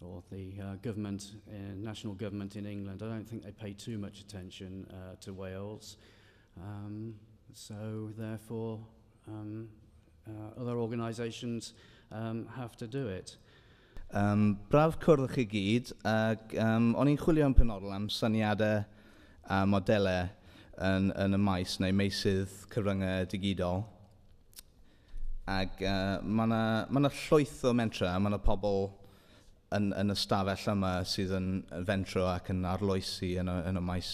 or the uh, government, uh, national government in England, I don't think they pay too much attention uh, to Wales. Um, so therefore, um, uh, other organisations um, have to do it. Um, braf cwrdd chi gyd, ac um, o'n i'n chwilio yn penodol am syniadau a modelau yn, yn y maes neu meisydd cyfryngau digidol. Ac uh, mae yna ma llwyth o mentra, mae yna pobl yn, yn y stafell yma sydd yn fentro ac yn arloesi yn y, yn y maes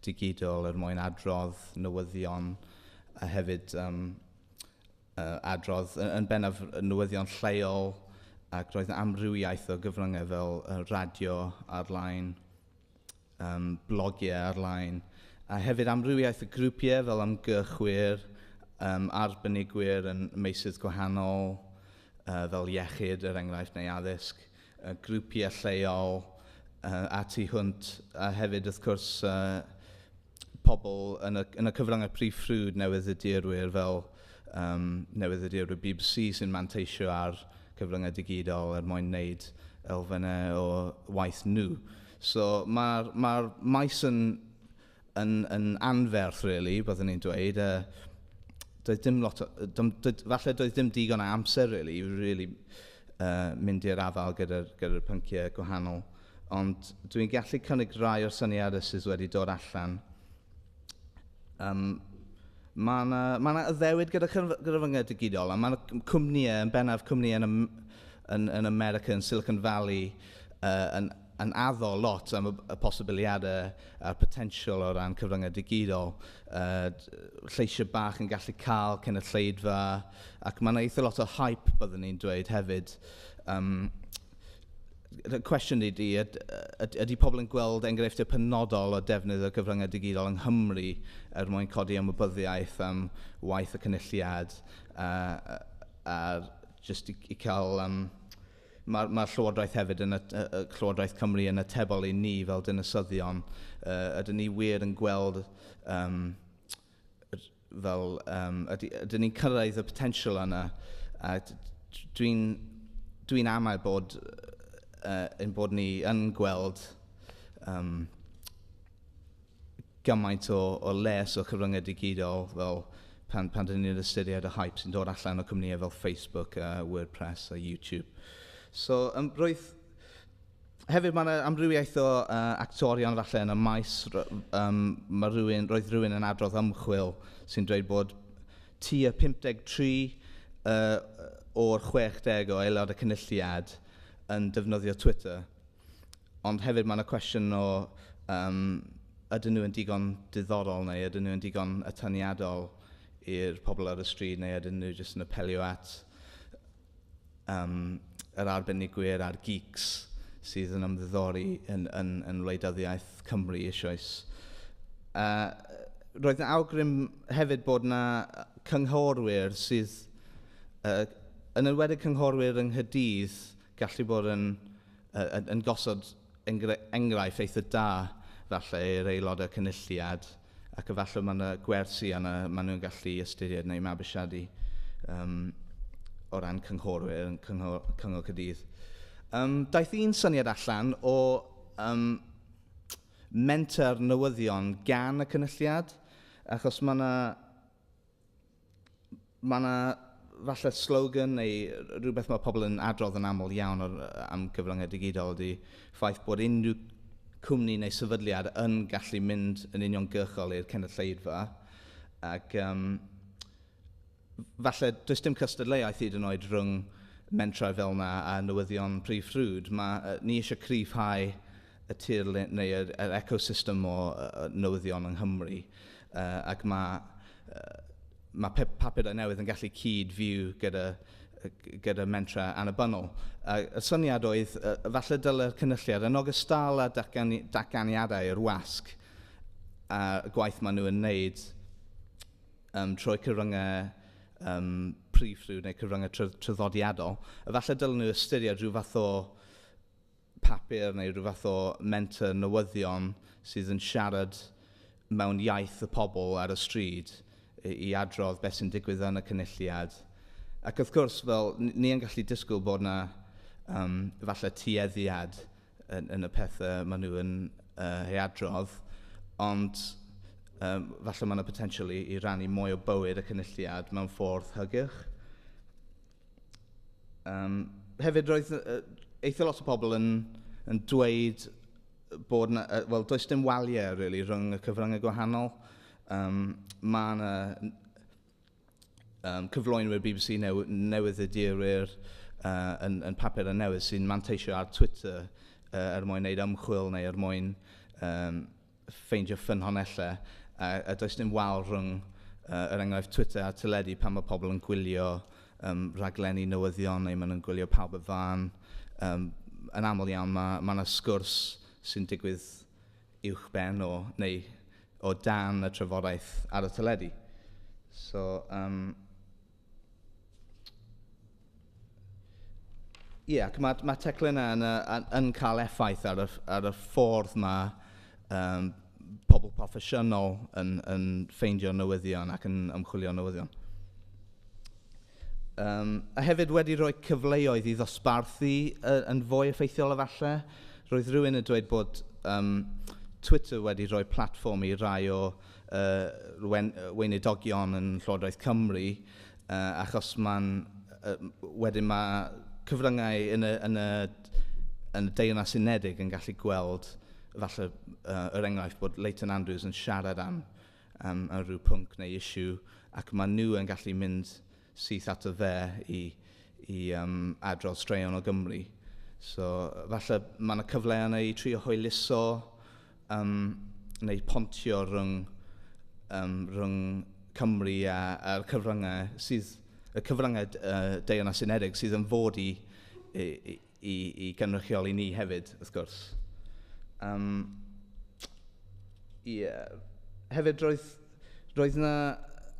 digidol er mwyn adrodd newyddion a hefyd um, uh, adrodd yn, yn bennaf newyddion lleol ac roedd yn amrywiaeth o gyfryngau fel uh, radio ar-lein, um, blogiau ar-lein, a hefyd amrywiaeth y grwpiau fel ymgyrchwyr, um, arbenigwyr yn meysydd gwahanol, uh, fel iechyd, er enghraifft, neu addysg, uh, grwpiau lleol, uh, a tu hwnt, a hefyd, wrth gwrs, uh, pobl yn y, yn y cyfryngau prif ffrwd newyddiadurwyr fel um, newyddiadurwyr BBC sy'n manteisio ar cyfryngau digidol er mwyn wneud elfennau o waith nhw. So mae'r ma, maes yn, yn, yn anferth, really, byddwn ni'n dweud. Uh, doedd dim lot, dym, doedd, falle doedd dim digon o amser, really, i really, uh, mynd i'r afael gyda'r gyda pynciau gwahanol. Ond dw i'n gallu cynnig rai o'r syniadau sydd wedi dod allan. Um, mae yna ma addewid gyda gyfryngau digidol, a mae yna cwmnïau, yn bennaf cwmnïau yn, yn, yn America, yn Silicon Valley, uh, yn, yn addo lot am y, y posibiliadau a'r potensial o ran cyfryngau digidol. Uh, lleisiau bach yn gallu cael cynulleidfa, ac mae yna eitha lot o hype, byddwn ni'n dweud hefyd. Um, y cwestiwn ydy, yd, yd, ydy pobl yn gweld enghreifftiau penodol o defnydd o gyfryngau digidol yng Nghymru er mwyn codi ymwybyddiaeth am waith y cynulliad a, a, a just i, i cael... Um, Mae'r ma Llywodraeth hefyd yn y, y Llywodraeth Cymru yn atebol i ni fel dinasyddion. Uh, ydyn ni wir yn gweld um, fel yym yd- ydyn ni'n cyrraedd y potensial yna a d- d- dwi'n dwi'n amau bod yy ein bod ni yn gweld yym gymaint o o les o cyfryngau digidol fel pan pan dyn ni'n ystyried y hype sy'n dod allan o cwmnïau fel Facebook a WordPress a YouTube. So yym roedd Hefyd, mae yna amrywiaeth o uh, actorion falle yn y maes. Um, mae rhywun, roedd rhywun yn adrodd ymchwil sy'n dweud bod tu y 53 uh, o'r 60 o aelod y cynulliad yn defnyddio Twitter. Ond hefyd mae yna cwestiwn o um, ydyn nhw yn digon diddorol neu ydyn nhw yn digon atyniadol i'r pobl ar y stryd neu ydyn nhw jyst yn apelio at um, yr arbenigwyr a'r geeks sydd yn ymddiddori yn, yn, yn wleidyddiaeth Cymru eisoes. Uh, roedd yna awgrym hefyd bod yna cynghorwyr sydd, uh, yn enwedig cynghorwyr yng Nghydydd, gallu bod yn, uh, yn, yn gosod enghraifft eitha da falle i'r aelodau cynulliad ac efallai mae yna gwersi yna maen nhw'n gallu ystyried neu mabwysiadu um, o ran cynghorwyr yn cyngor, cyngor cydydd. Um, daeth un syniad allan o um, menter newyddion gan y cynulliad, achos mae yna Mae 'na falle slogan neu rhywbeth mae pobl yn adrodd yn aml iawn o'r, am gyfryngau digidol ydy ffaith bod unrhyw cwmni neu sefydliad yn gallu mynd yn uniongyrchol i'r cynulleidfa ac um, falle does dim cystadleuaeth hyd yn oed rhwng mentrau fel yna a newyddion prif ffrwd. Mae, ni eisiau cryfhau y tirlun neu yr, yr ecosystem o uh, newyddion yng Nghymru uh, ac mae uh, mae pe papurau newydd yn gallu cyd fyw gyda, gyda mentra annibynnol. A y syniad oedd, uh, falle dylai'r cynulliad yn ogystal â datgani datganiadau i'r wasg a gwaith maen nhw yn wneud um, trwy cyfryngau um, prif rhyw neu cyfryngau traddodiadol, efallai dylen nhw ystyried rhyw fath o papur neu rhyw fath o menter newyddion sydd yn siarad mewn iaith y pobl ar y stryd i adrodd beth sy'n digwydd yn y cynulliad. Ac wrth gwrs, fel ni yn gallu disgwyl bod yna um, falle tueddiad yn, yn y pethau maen nhw yn uh, ei adrodd, ond um, falle mae yna potensial i, i rannu mwy o bywyd y cynulliad mewn ffordd hygyrch. Um, hefyd, roedd uh, eitha lot o pobl yn, yn dweud bod na, uh, well, does dim waliau really, rhwng y cyfryngau gwahanol. Um, mae yna um, cyflwynwyr BBC new, newydd y dirwyr uh, yn, yn papur y newydd sy'n manteisio ar Twitter uh, er mwyn wneud ymchwil neu er mwyn um, ffeindio ffynhonellau, a, a does dim wal rhwng, uh, er enghraifft, Twitter a teledu pan mae pobl yn gwylio um, rhaglenni newyddion neu maen nhw'n gwylio pawb y fan. Um, yn aml iawn mae yna ma sgwrs sy'n digwydd uwch ben o, neu o dan y trafodaeth ar y teledu. So, um, Ie, ac mae'r ma teclyn yna yn, yn, yn cael effaith ar y, ar y ffordd mae um, pobl proffesiynol yn, yn ffeindio newyddion ac yn ymchwilio newyddion. Um, a hefyd wedi rhoi cyfleoedd i ddosbarthu uh, yn fwy effeithiol efallai. Roedd rhywun yn dweud bod um, Twitter wedi rhoi platform i rai o y weinidogion yn Llywodraeth Cymru achos mae'n... wedyn mae cyfryngau yn y yn y yn y Deyrnas Unedig yn gallu gweld falle yr enghraifft bod Leighton Andrews yn siarad am am rhyw pwnc neu issue ac maen nhw yn gallu mynd syth at y dde i, i um, adrodd straeon o Gymru. So, falle mae yna cyfle yna i trio hwyluso um, neu pontio rhwng, um, rhwng Cymru a, a cyfryngau sydd y cyfryngau uh, Deyrnas Unedig sydd yn fod i, i, i i gynrychioli ni hefyd, wrth gwrs. Um, ie. Hefyd, roedd, roedd yna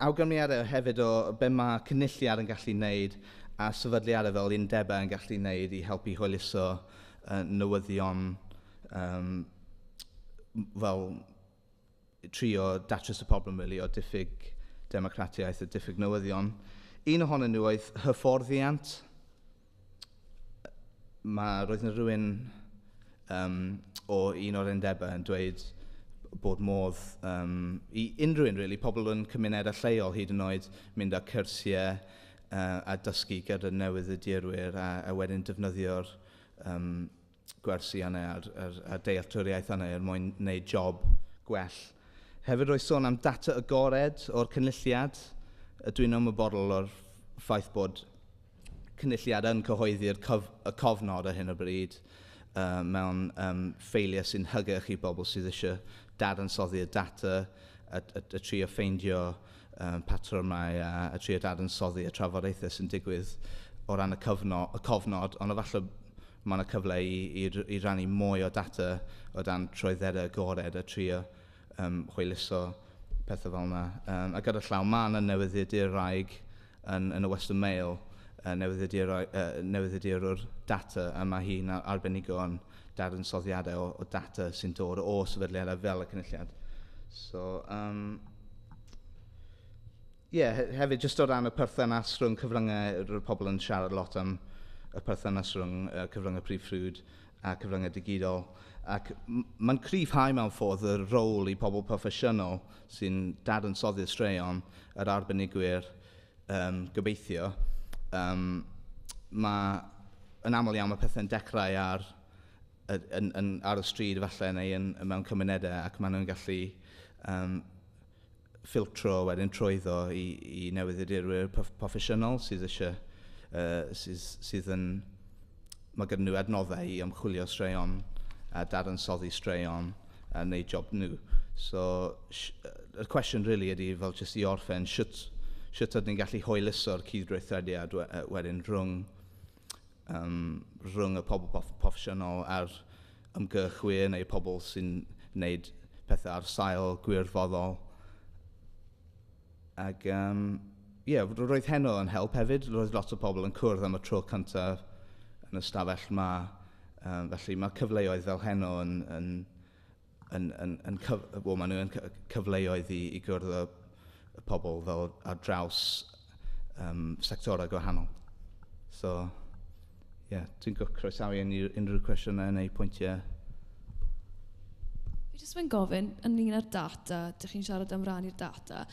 awgrymiadau hefyd o be mae cynulliad yn gallu wneud a sefydliadau fel undebau yn gallu wneud i helpu hwyluso uh, newyddion um, fel trio datrys y problem really, o diffyg democratiaeth a diffyg newyddion. Un ohonyn nhw oedd hyfforddiant. Mae, roedd yna rhywun um, o un o'r undebau yn dweud bod modd um, i unrhyw un, really, pobl yn cymunedau lleol hyd yn oed mynd â cyrsiau uh, a dysgu gyda newydd y dirwyr a, a wedyn defnyddio'r um, gwersi yna a'r, a'r, a'r dealltwriaeth yna er mwyn gwneud job gwell. Hefyd roedd sôn am data agored o'r cynulliad. Dwi'n ymwybodol o'r ffaith bod cynulliad yn cyhoeddi'r cof, y cofnod ar hyn o bryd uh, mewn um, ffeiliau sy'n hygyrch i bobl sydd eisiau dadansoddi'r data a, a, a trio ffeindio patrymau a, a trio dadansoddi y trafodaethau sy'n digwydd o ran y, cyfno, y cofnod, ond efallai mae yna cyfle i, i, i rannu mwy o data o dan troedderau agored a trio um, chwyluso pethau fel yna. Um, a gyda llaw, mae yna newyddiaduraig yn, yn y Western Mail, uh, newyddiadurwr uh, data, a mae hi'n arbenigo yn dadansoddiadau o, o data sy'n dod o sefydliadau fel y cynulliad. So, um, Ie, hefyd jyst o ran y perthynas rhwng cyfryngau, roedd pobl yn siarad lot am y perthynas rhwng uh, cyfryngau prif ffrwd a cyfryngau digidol. Ac mae'n cryfhau mewn ffordd y rôl i pobl proffesiynol sy'n dadansoddi'r straeon, yr arbenigwyr, um, gobeithio. Um, mae yn aml iawn mae pethau'n dechrau ar yn, yn, ar y stryd efallai neu yn, mewn cymunedau ac maen nhw'n gallu um, ffiltro wedyn trwyddo i, i newyddiadurwyr proffesiynol sydd eisiau uh, sydd, sydd yn mae gyda nhw adnoddau i ymchwilio straeon a dadansoddi straeon a wneud job nhw. So, y cwestiwn really ydy fel jyst i orffen, sut, sut ydyn ni'n gallu hwyluso'r cyd-gweithrediad wedyn rhwng um, rhwng y pobl prof proffesiynol a'r ymgyrchwyr neu pobl sy'n wneud pethau ar sail gwirfoddol. Ac, um, yeah, roedd heno yn help hefyd. Roedd lot o pobl yn cwrdd am y tro cyntaf yn y stafell yma. Um, felly mae cyfleoedd fel heno yn, yn, yn, yn, yn cyf, well, maen nhw'n cyfleoedd i, i gwrdd y, y pobl fel ar draws um, sectorau gwahanol. So, ie, yeah, dwi'n croesawu unrhyw, unrhyw cwestiynau neu pwyntiau. Fi jyst yn gofyn, yn un ar data, dych chi'n siarad am rannu'r data,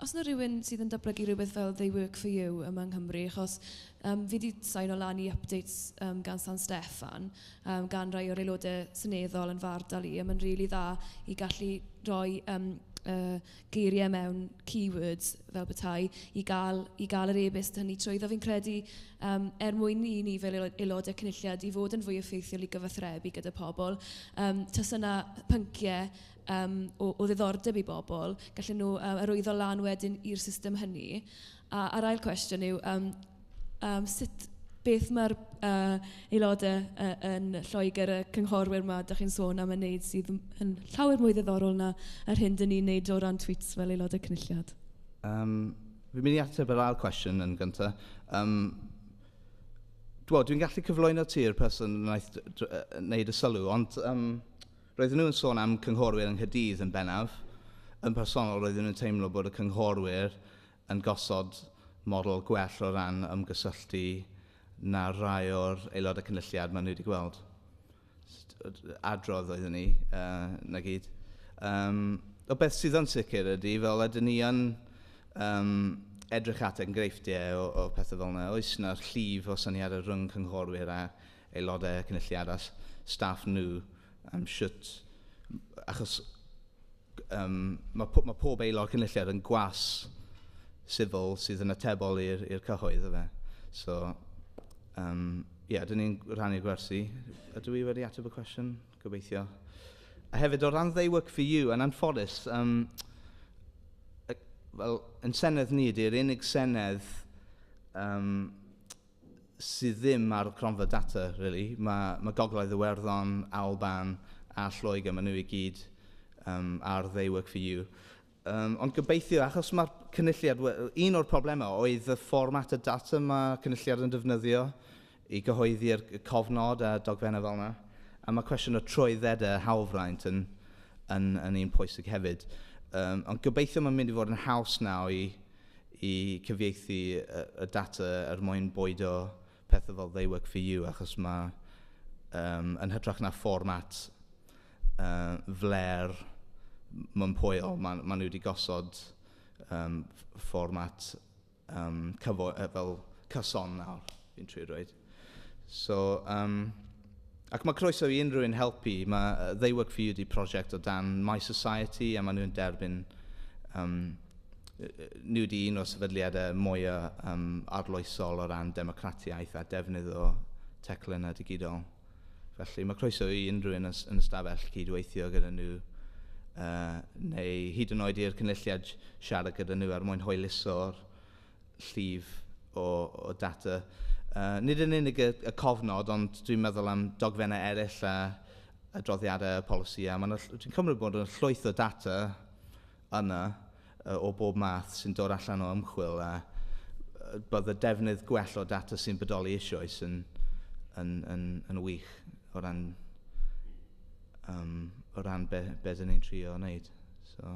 os yna rhywun sydd yn dablygu rhywbeth fel They Work For You yma yng Nghymru, achos Yym fi 'di signo lan i updates yym gan San Steffan yym gan rai o'r aelodau seneddol yn fy ardal i a mae'n rili dda i gallu rhoi yym yy geiriau mewn keywords fel petai i gael i gael yr e-byst hynny trwyddo. Fi'n credu yym er mwyn i ni fel aelo- aelodau cynulliad i fod yn fwy effeithiol i gyfathrebu gyda pobl yym tase 'na pynciau yym o o ddiddordeb i bobl gallen nhw yy arwyddo lan wedyn i'r system hynny. A a'r ail cwestiwn yw yym yym sut... beth ma'r yy aelodau yy yn Lloegr, y cynghorwyr 'ma dach chi'n sôn am yn wneud sydd yn yn llawer mwy ddiddorol na yr hyn dan ni'n wneud o ran Tweets fel aelodau Cynulliad? Yym fi'n mynd i ateb yr ail cwestiwn yn gyntaf. Yym wel dwi'n gallu cyflwyno ti'r person wnaeth wneud y sylw ond yym roedden nhw yn sôn am cynghorwyr yng Nghaerdydd yn bennaf. Yn personol roedden nhw'n teimlo bod y cynghorwyr yn gosod model gwell o ran ymgysylltu na rai o'r Aelodau Cynulliad maen nhw wedi gweld. Adrodd oeddwn ni, uh, na gyd. Um, o beth sydd yn sicr ydy, fel ydyn ni yn um, edrych at engreifftiau o, o pethau fel yna, oes yna'r llif o syniadau rhwng cynghorwyr a aelodau cynulliad a staff nhw am siwt, achos Yym, mae po- mae pob aelod cynulliad yn gwas sifil sydd yn atebol i'r i'r cyhoedd, efe. So, yym, ie, dyn ni'n rhannu'r gwersi. Ydw i wedi ateb y cwestiwn? Gobeithio. A hefyd, o ran they work for you, yn anffodus, yym, y- wel, yn Senedd ni, ydy'r unig Senedd yym, sydd ddim ar gronfa data rili. Mae, mae Gogledd Iwerddon, Alban a Lloegr, maen nhw i gyd um, ar They Work For You. Um, ond gobeithio, achos mae'r cynulliad, un o'r problemau oedd y fformat y data mae cynulliad yn defnyddio i gyhoeddi'r cofnod a dogfennau fel yna. A mae cwestiwn o trwyddedau hawlfraint yn, yn, yn un pwysig hefyd. Um, ond gobeithio mae'n mynd i fod yn haws nawr i i cyfieithu y data er mwyn bwydo pethau fel they work for you achos mae um, yn hytrach na fformat uh, fler mwynpoel, maen ma nhw wedi gosod um, fformat um, cyfo, uh, fel cyson nawr, fi'n trwy rwy'n. So, um, ac mae croeso i unrhyw un helpu. Mae They Work For You di prosiect o dan My Society a maen nhw'n derbyn um, nhw wedi un o sefydliadau mwyaf um, arloesol o ran democratiaeth a defnydd o teclyn a digidol. Felly mae croeso i unrhyw un yn y stafell cydweithio gyda nhw uh, neu hyd yn oed i'r cynulliad siarad gyda nhw ar er mwyn hwyluso'r llif o, o data. Uh, nid yn unig y, y cofnod, ond dwi'n meddwl am dogfennau eraill a adroddiadau y polisi. A dwi'n cymryd bod yn llwyth o data yna uh, o bob math sy'n dod allan o ymchwil a bydd y defnydd gwell o data sy'n bodoli eisoes yn, yn, yn, yn wych o ran, um, o ran be, be dyn ni'n trio wneud. So.